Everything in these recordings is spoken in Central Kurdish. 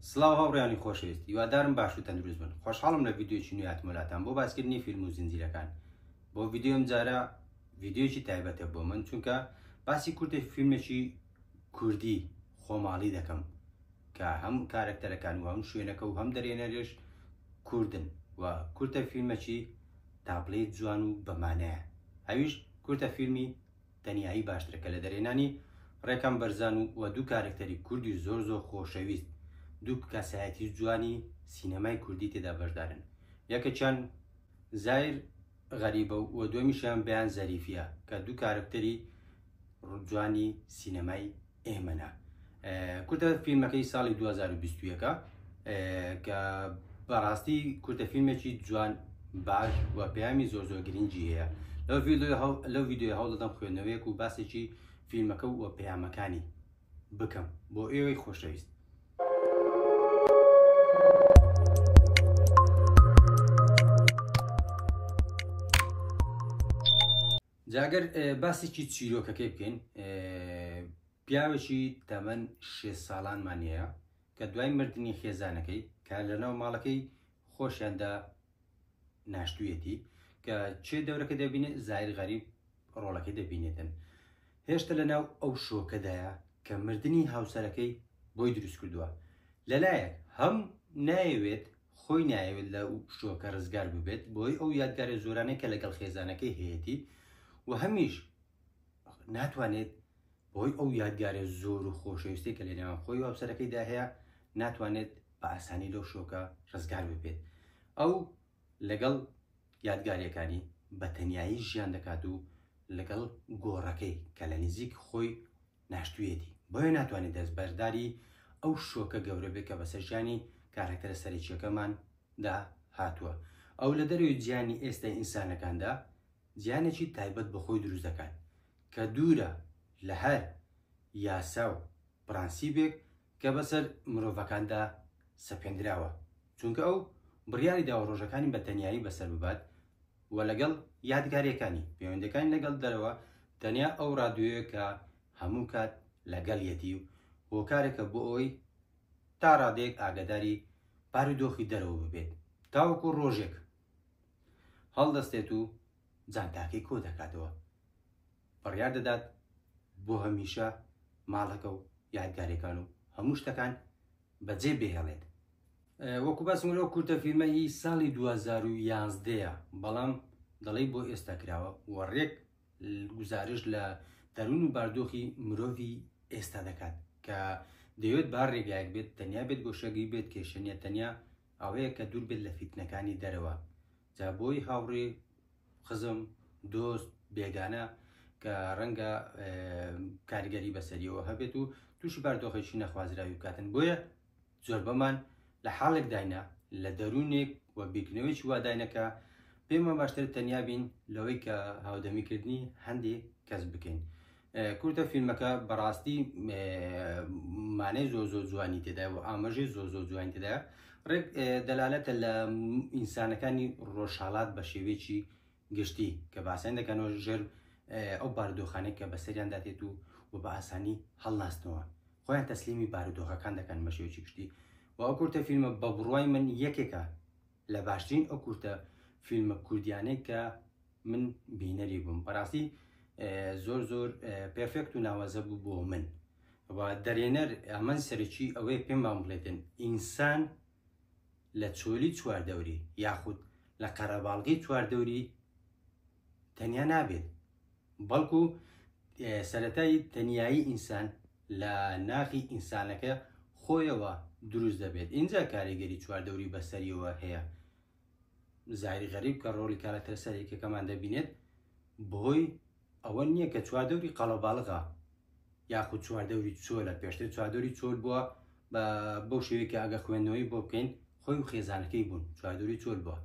سڵاو هاوڕێیانی خۆشەویست هیوادارم باش و تەندروست بن خۆشحاڵم لە ڤیددیوی نوێ هاتمە لاتان بۆ باسکردنی فیلم و زنجیرەکان بۆ ڤیددیوم جارە ڤیددیوکی تایبەتە بۆ من چونکە باسی کورتێک فیلمێکی کوردی خۆماڵی دەکەم کە هەم کارەکتەرەکان و هەم شوێنەکە و هەم دەرێنەرێش کوردن و کورتە فیلمەکی تابلێت جوان و بەمانەیە ئەویش کورتە فیلمی تەنیایی باشترە کە لە دەرێنانی ڕێکان بەرزان و و دوو کارکتەری کوردی زۆر زۆر خۆشەویست دوو کەسایەتی جوانی سینەمای کوردی تێدا بەشدارن یەکەچان زایر غەریبە و دومیشیان بیان زەریفە کە دوو کارکتەری جوانی سینەمای ئێمە نا. کورتە فیلمەکەی ساڵی 2021 ە کە بەڕاستی کورتە فیلمێکی جوان باش و پەیامی زۆر زۆر گرنگی هەیە لەو ویددیو هەوڵدەم خوێندنەوەیەک و باسێکی فیلمەکە و پەیامەکانی بکەم بۆ ئێوەی خۆشەویست جا گەر باسێکی چیرۆکەکەی بکەین پیاوێکی تەمەن شێ ساڵانمان هەیە کە دوای مردنی خێزانەکەی کە لەناو ماڵەکەی خۆشیاندا ناشتویەتی کە چێ دەورەکە دەبینێت زایر غەریب ڕۆڵەکە دەبینێتن هێشتا لەناو ئەو شۆکەدایە کە مردنی هاوسەرەکەی بۆی دروست کردووە لەلایەک هەم نایەوێت خۆی نایەوێت لە و پشووەکە رزگار ببێت بۆی ئەو یادگارە زۆرانەی کە لەگەڵ خێزانەکەی هەیەتی و هەمیش ناتوانێت بۆی ئەو یادگارە زۆر و خۆشەویستی کە لە نێوان خۆی و هاوسەرەکەی دا هەیە ناتوانێت بە ئاسانی لەو شۆکە رزگار ببێت ئەو لەگەڵ یادگاریەکانی بە تەنایی ژیان دەکات و لەگەڵ گۆڕەکەی کە لە نزیک خۆی ناشتوویەتی، بۆیە ناتوانێت دەستبەرداری ئەو شۆکە گەورە بێت کە بەسەر ژیانی کارەکتەرە سەرەکییەکەماندا هاتووە. ئەو لە دەرەوەی جیهانی ئێستای ئینسانەکاندا جیهانێکی تایبەت بە خۆی دروست دەکات کە دوورە لە هەر یاسا و پرەنسیپێک کە بەسەر مرۆڤەکاندا سەپێندراوە، چونکە ئەو بڕیاری داوە ڕۆژەکانی بە تەنیایی بەسەر ببات و لەگەڵ یادگارییەکانی، پەیوەندییەکانی لەگەڵ دەرەوە، تەنیا ئەو ڕادیۆیە کە هەموو کات لەگەڵیەتی و هۆکارێکە بۆ ئەوەی تا ڕادەیەک ئاگاداری بارودۆخی دەرەوە ببێت، تاوەکو ڕۆژێک هەڵدەستێت و جانتاکەی کۆدەکاتەوە. بڕیار دەدات بۆ هەمیشە ماڵەکە و یادگاریەکان و هەموو شتەکان بەجێ بهێڵێت. وەکو باسم لەو کورتە فیلمە هی ساڵی 2011ە بەڵام دەڵی بۆ ئێستا کراوە و ڕێک گزارش لە دەروون و باردۆخی مرۆڤی ئێستا دەکات کە دەوێت با ڕێگایەک بێت تەنیا بێت گۆشەگی بێت کێشەنیە تەنیا ئەوەیە کە دوور بێت لە فیتنەکانی دەرەوە جا بۆی هاوڕێ خزم دۆست بێگانە کە ڕەنگە کارگەری بەسەریەوە هەبێت و تووشی باردۆخێکی نەخوازراوی بکاتن بۆیە زۆر بەمان لە حاڵێک داینە لە دەروونێک و بیرکردنەوەیکی واداینەکە پێمان باشتر تەنیا بین لەوەی کە هاودەمیکردنی هەندێک کەس بکەین کورتە فیلمەکە بەڕاستی مانای زۆر زۆر جوانی تێدا و ئاماژەی زۆر زۆر جوانی تێدا ڕێک دەلالەتە لە ئینسانەکانی ڕۆژهاڵات بە شێوێکی گشتی کە باسەن دەکەنەوە ژێر ئەو بارودۆخانێک کە بەسەریان داتێت و و بە ئاسانی هەڵناستنەوە خۆیان تەسلیمی بارودۆخەکان دەکەن بە شێوێکی گشتی و ئەو کورتە فیلمە بە بڕوای من یەکێکە لە باشترین ئەو کورتە فیلمە کوردیانەی کە من بینەری بووم بەڕاستی زۆر زۆر پێفێکت و ناوازە بوو بۆ من و دەرێنەر ئەمەن سەرەکی ئەوەیە پێمان بڵێتن ئینسان لە چۆلی چواردەوری یاخود لە قەرەباڵگەی چواردەوری تەنیا نابێت بەڵکو سەتایی تەنایی ئینسان لە ناخی ئینسانەکە خۆیەوە دروست دەبێت ئینجا کاریگەری چواردەوری بەسەریەوە هەیە زاری غەریب کە ڕۆلی کارەکتەر سەرێکەکەمان دەبینێت بۆی ئەوە نییە کە چواردەوری قەڵەباڵغا یاخود چواردەوری چۆلە پێشتر چواردەوری چۆل بووە بە بەو شێوەیە ئەگە خوێندنەوەی بۆ بکەین خۆی و خێزانەکەی بوون چواردەوری چۆل بووە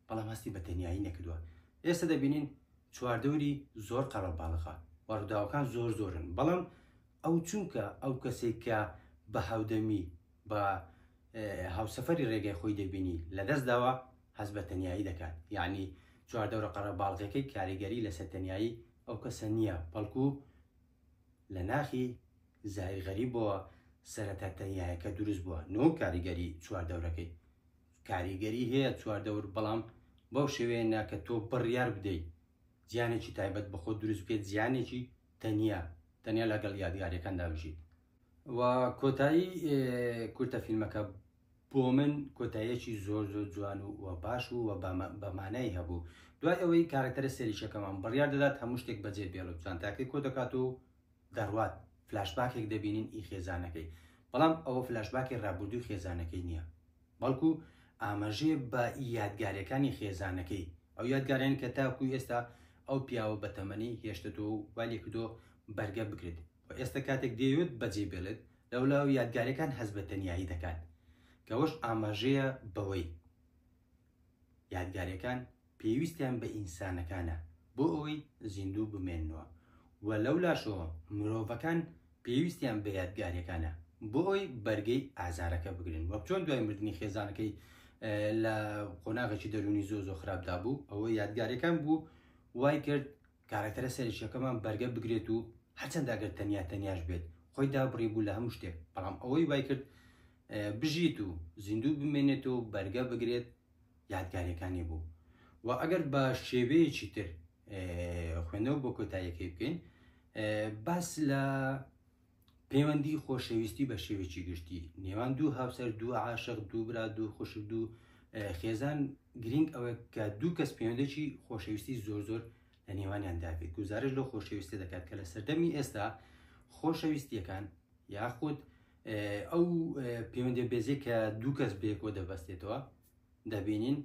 بەڵام هەستی بە تەنیایی نەکردووە. ئێستا دەبینین چواردەوری زۆر قەرەباڵغە و ڕووداوەکان زۆر زۆرن، بەڵام ئەو چونکە ئەو کەسەی کە بە هاودەمی بە هاوسەفەری ڕێگای خۆی دەبینی لەدەست داوە، هەست بە تەنیایی دەکات. یەعنی چواردەورە قەرەباڵغەکەی کاریگەری لەسەر تەنیایی ئەو کەسە نییە، بەڵکو لە ناخی زاهیر غەریبەوە سەرەتا تەنیایەکە دروست بووە، نەوەک کاریگەری چواردەورەکەی. کاریگەری هەیە چواردەور بەڵام بەو شێوەیە نا کە تۆ بڕیار بدەیت زیانێکی تایبەت بە خۆت دروست بکەیت زیانێکی تەنیا تەنیا لەگەڵ یادگاریەکاندا بژیت و کۆتایی کورتە فیلمەکە بۆ من کۆتایەکی زۆر زۆر جوان و و باش و و بەمانای هەبوو دوای ئەوەی کارەکتەرە سەریشەکەمان بڕیار دەدات هەموو شتێک بەجێ بێڵوتان تاکەی کۆ دەکات و دەڕوات فلاشباکێک دەبینین ئی خێزانەکەی بەڵام ئەوە فلاشباکی ڕابردووی خێزانەکەی نییە بەڵکو ئاماژەیە بە ئی یادگارەکانی خێزانەکەی ئەو یادگارێن کە تاکو ئێستا ئەو پیاوە بە تەمەنی هێشتەتۆ و والی کردۆ بەرگە بکرێت و ئێستا کاتێک دێوێت بەجێ بێڵێت لەولا و یادگارەکان هەز بە تەنیایی دەکات کەوەش ئاماژەیە بەوەی یادگارەکان پێویستیان بە ئینسانەکانە بۆ ئەوەی زیندوو بمێننەوە و لەو لاشەوە مرۆڤەکان پێویستیان بە یادگاریەکانە بۆ ئەوەی بەرگەی ئازارەکە بگرن وەک چۆن دوای مردنی خێزانەکەی لە قۆناغێکی دەرونی زۆ زۆ خراپدا بوو ئەوە یادگاریەکان بوو وای کرد کارەکتەرە سەرشەکەمان بەرگە بگرێت و هەرچەند ئەگەر تەنیا تەنیاش بێت خۆی دابڕی بوو لە هەموو شتێک بەڵام ئەوەی وای کرد بژیت و زیندوو بمێنێت و بەرگە بگرێت یادگاریەکانی بوو و ئەگەر بە شێوەیەکی تر خوێندنەوە بۆ کۆتاییەکەی بکەین باس لە پەیوەندی خۆشەویستی بە شێوێکی گشتی نێوان دوو هاوسەر دوو عاشق دوو برا دوو خوشک دوو خێزان گرنگ ئەوە کە دوو کەس پەیوەندێکی خۆشەویستی زۆر زۆر لە نێوانیان دابێت گوزارش لە خۆشەویستی دەکات کە لە سەردەمی ئێستا خۆشەویستیەکان یاخود ئەو پەیوەندی بێزی کە دوو کەس بێکۆ دەبەستێتەوە دەبینین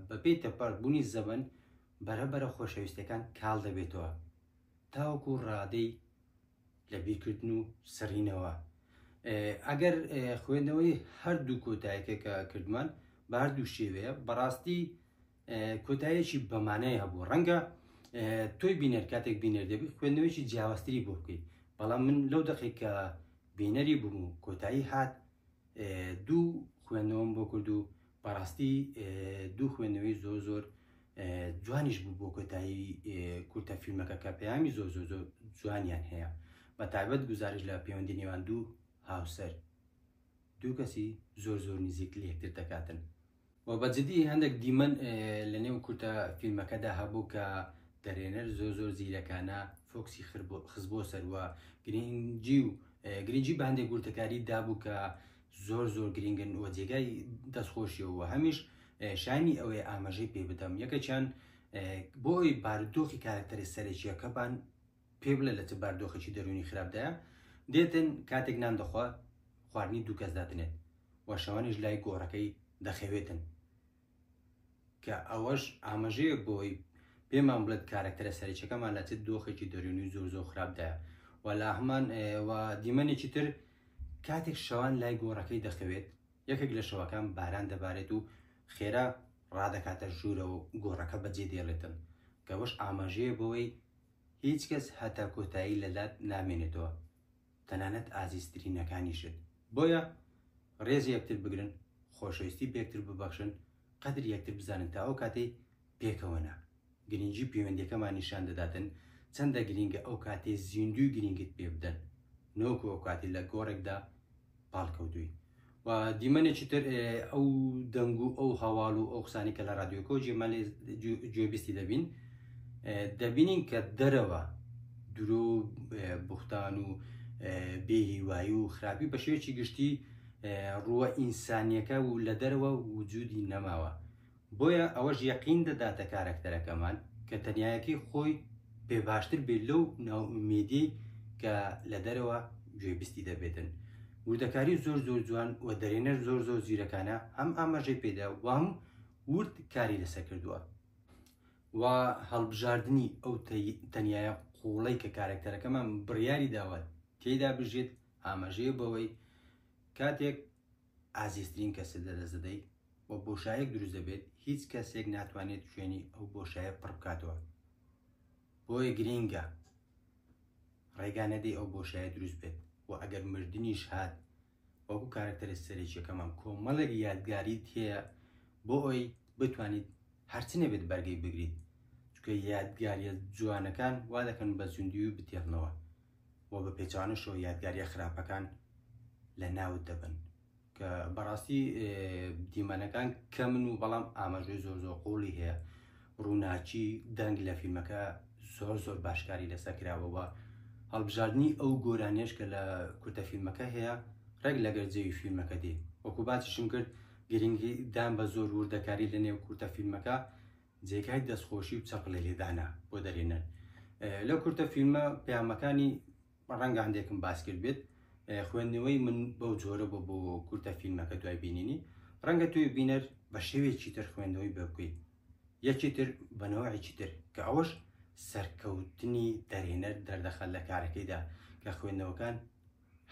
بەپی تەپەر بوونی زەبن بەرەبەرە خۆشەویستەکان کاڵ دەبێتەوە تاوەکو ڕادەی لە بیرکردن و سڕینەوە ئەگەر خوێندنەوەی هەردوو کۆتایەکە کە کردمان بە هەردوو شێوەیە بەڕاستی کۆتایەکی بەمانای هەبوو ڕەنگە تۆی بینەر کاتێک بینەر دەبی خوێندنەوەیکی جیاوازتری بۆ بکەیت بەڵام من لەو دەقی کە بینەری بووم و کۆتایی هات دوو خوێندنەوەم بۆ کرد و بەڕاستی دوو خوێندنەوەی زۆر زۆر جوانیش بوو بۆ کۆتایی کورتە فیلمەکە کە پەیامی زۆر زۆر زۆر جوانیان هەیە بە تایبەت گوزارش لە پەیوەندی نێوان دوو هاوسەر دوو کەسی زۆر زۆر نزیک لە یەکتر دەکاتن وە بە جدی هەندەک دیمەن لە نێو کورتە فیلمەکەدا هەبوو کە دەرێنەر زۆر زۆر زیرەکانە فۆکسی خزبۆ سەروە گرنگجی و گرنگجی بە هەندێک گورتەکاری دابوو کە زۆر زۆر گرنگن وە جێگای دەستخۆشیەوە هەمیش شانی ئەوەی ئاماژەی پێ بدەم یەکەچیان بۆی بارودۆخی کارکتەرە سەرەکیەکەبان پێ بڵێ لە چ باردۆخێکی دەروونی خراپدایە دێتن کاتێک نان دەخوا خواردنی دوو کەس دادنێت و شەوانیش لای گۆڕەکەی دەخەوێتن کە ئەوەش ئاماژەیەک بۆی پێمان بڵێت کارەکتەرە سەرچەکەمان لە چ دۆخێکی دەروونی زۆر زۆر خراپدایە و لا هەمان و دیمەنێکی تر کاتێک شەوان لای گۆڕەکەی دەخەوێت یەکێک لە شەوەکان باران دەبارێت و خێرا ڕادەکاتە ژوورەوە گۆڕەکە بەجێ دێڵێتن کەەوەش ئاماژەیە بەوەی هیچ کەس هەتا کۆتایی لەلات نامێنێتەوە تەنانەت ئازیزترینەکانیشت، بۆیە ڕێز یەکتر بگرن، خۆشەویستی بەیەکتر ببەخشن، قەدری یەکتر بزانن تا ئەو کاتەی پێکەوە نا، گرنگی پەیوەندیەکەمان نیشان دەداتن چەندە گرنگە ئەو کاتەی زیندووی گرنگیت پێبدەن نەوەکو ئەو کاتەی لە گۆڕێکدا پاڵکەوتووی و دیمەنێکی تر ئەو دەنگ و ئەو هەواڵ و ئەو قسانی کە لە رادیۆکۆ جێمەلێ گوێبیستی دەبین دەبینین کە دەرەوە درۆ بوختان و بێهیوایی و خراپی بە شێوەیەکی گشتی ڕووە ئینسانیەکە و لە دەرەوە وجودی نەماوە بۆیە ئەوەش یەقین دەداتە کارەکتەرەکەمان کە تەنیایەکەی خۆی پێ باشتر بێت لەو ناوئومێدیەی کە لە دەرەوە گوێبستی دەبێتن وردەکاری زۆر زۆر جوان و دەرێنەر زۆر زۆر زیرەکانە هەم ئاماژەی پێدا وام ورد کاری لەسەر کردووە و هەڵبژاردنی ئەو تەنیایە قوڵەی کە کارەکتەرەکەمان بڕیاری داوە تێدا بژێت ئاماژەیە بەوەی کاتێک ئازیزترین کەست لەدەست دەدەیت و بۆشایەک دروست دەبێت هیچ کەسێک ناتوانێت شوێنی ئەو بۆشایە پڕ بکاتەوە بۆیە گرینگە ڕێگا نەدەی ئەو بۆشایە دروست بێت و ئەگەر مردنیش هات وەکو کارکتەرە سەرێکیەکەمان کۆمەڵێک یادگاری تێە بۆ ئەوی بتوانیت هەرچ نەبێت بەرگەی بگریت چکە یادگاریە جوانەکان وا دەکەن بە زیندوی بتێڕنەوە و بە پێچەوانەشەوە یادگاریە خراپەکان لە ناوت دەبن کە بەڕاستی دیمەنەکان کەمن و بەڵام ئاماژەی زۆر زۆر قوڵی هەیە ڕووناچی دەنگ لە فیلمەکە زۆر زۆر باشکاری لەسەر کراوەوە هەڵبژاردننی ئەو گۆرانێش کە لە کورتە فیلمەکە هەیە ڕێک لەگەر جەوی فیلمەکە دێ وەکو باسیشم کرد گرنگی دان بە زۆر وردەکاری لە نێو کورتە فیلمەکە جێگای دەستخۆشی و چەپڵێ لێدانە بۆ دەرهێنەر. لەو کورتە فیلمە پەیامەکانی ڕەنگە هەندێکم باس کرد بێت خوێندنەوەی من بەو جۆرە بۆ بۆ کورتە فیلمەکە دوای بینینی ڕەنگە توی بینەر بە شێوێکی تر خوێندنەوەی بە بکەیت یەکی تر بەنەوەیەکی تر کە ئەوەش سەرکەوتنی دەرهێنەر دەردەخەل لە کارەکەیدا کە خوێندنەوەکان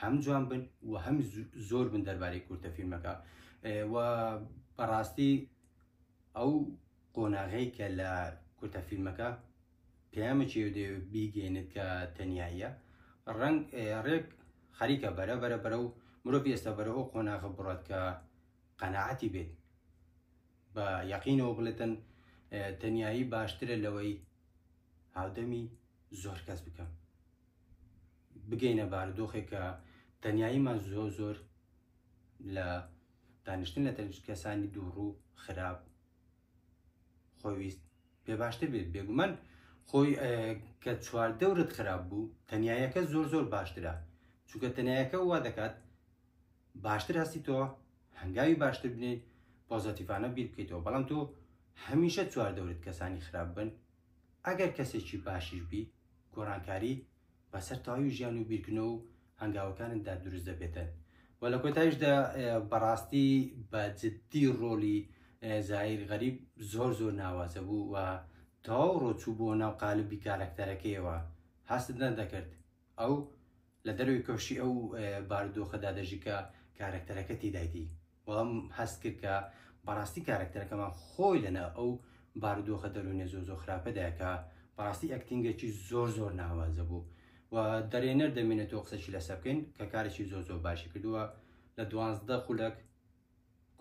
هەم جوان بن و هەم زۆر بن دەربارەی کورتە فیلمەکە و بەڕاستی ئەو قۆناغەی کە لە کورتە فیلمەکە پەیامەکی و دەیەوێت بیگەینێت کە تەنیاییە ڕەنگ ڕێک خەریکە بەرە بەرە بەرە و مرۆڤ ئێستا بەرە ئەو قۆناغە بڕات کە قەنەعەتی بێت بە یەقینەوە بڵێتن تەنیایی باشترە لەوەی هاودەمی زۆر کەس بکەم بگەینە بارودۆخێک کە تەنیاییمان زۆر زۆر لە دانیشتن لە تەک کەسانی دووڕو خراپ خۆویست پێ باشتر بێت بێگومان خۆی کە چوار دەورت خراپ بوو تەنایەکە زۆر زۆر باشترە چونکە تەنایەکە وا دەکات باشتر هەستی تۆ هەنگاوی باشتر بنێت پۆزەتیفانە بیر بکەیتەوە بەڵام تۆ هەمیشە چوار دەورت کەسانی خراپ بن ئەگەر کەسێکی باشیش بی گۆڕانکاری بە سەر تەواوی ژیان و بیرکردنەوە و هەنگاوەکانتدا دروست دەبێتن و لە کۆتایشدا بەڕاستی بە جددی ڕۆلی زایر غەریب زۆر زۆر ناوازە بوو و تەواو ڕۆچوو بۆ ناو قالبی کارەکتەرەکەیەوە هەستت نەدەکرد ئەو لە دەروی کۆشی ئەو بارودۆخەدا دەژی کە کارەکتەرەکە تیدایدی بەڵام هەست کرد کە بەڕاستی کارەکتەرەکەمان خۆی لەنا ئەو بارودۆخە دەروونە زۆر زۆر خراپەدایکە بەڕاستی ئەکتینگێکی زۆر زۆر ناوازە بوو و دەرێنەر دەمێنێتەوە قسەشی لەسە بکەین کە کارێکی زۆر زۆر باشی کردووە لە دوازدە خولەک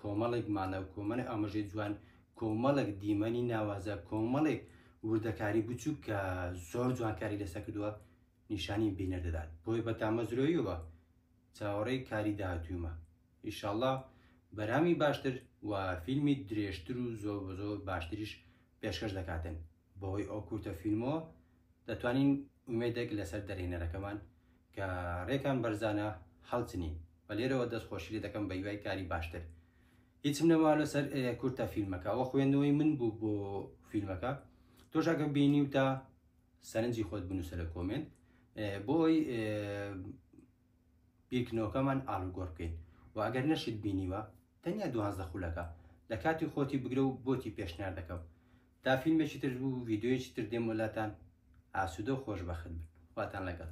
کۆمەڵێک مانە و کۆمەڵی ئاماژەی جوان کۆمەڵێک دیمەنی ناوازە کۆمەڵێک وردەکاری بچووک کە زۆر جوانکاری لەسە کردووە نیشانی بینەر دەدات بۆی بە تامەزرۆیەوە چاوەڕێی کاری داهاتوومە ئیشاڵڵا بەرامی باشتر و فیلمی درێژتر و زۆر و زۆر باشتریش پێشکەش دەکاتن بەهۆی ئەو کورتە فیلمەوە دەتوانین ئومێدێک لەسەر دەرهێنەرەکەمان کە ڕێکان بەرزانە هەڵچنین بە لێرەوە دەست خۆشی لێ دەکەم بە هیوای کاری باشتر هیچم نەما لەسەر کورتە فیلمەکە وە خوێندنەوەی من بوو بۆ فیلمەکە تۆشاکە بینی و تا سەرنجی خۆت بنووسە لە کۆمێنت بۆی بیرکردنەوەکەمان ئاڵوگۆڕ بکەین و ئەگەر نەشت بینیوە تەنیا دوانزدە خولەکە لە کاتی خۆتی بگرە و بۆتی پێشنیار دەکەم تا فیلمێکی تر و ڤیدیۆیەکی تر دێم بۆ لاتان ئاسوودە و خۆشبەخت بن خواتان لەگەڵ.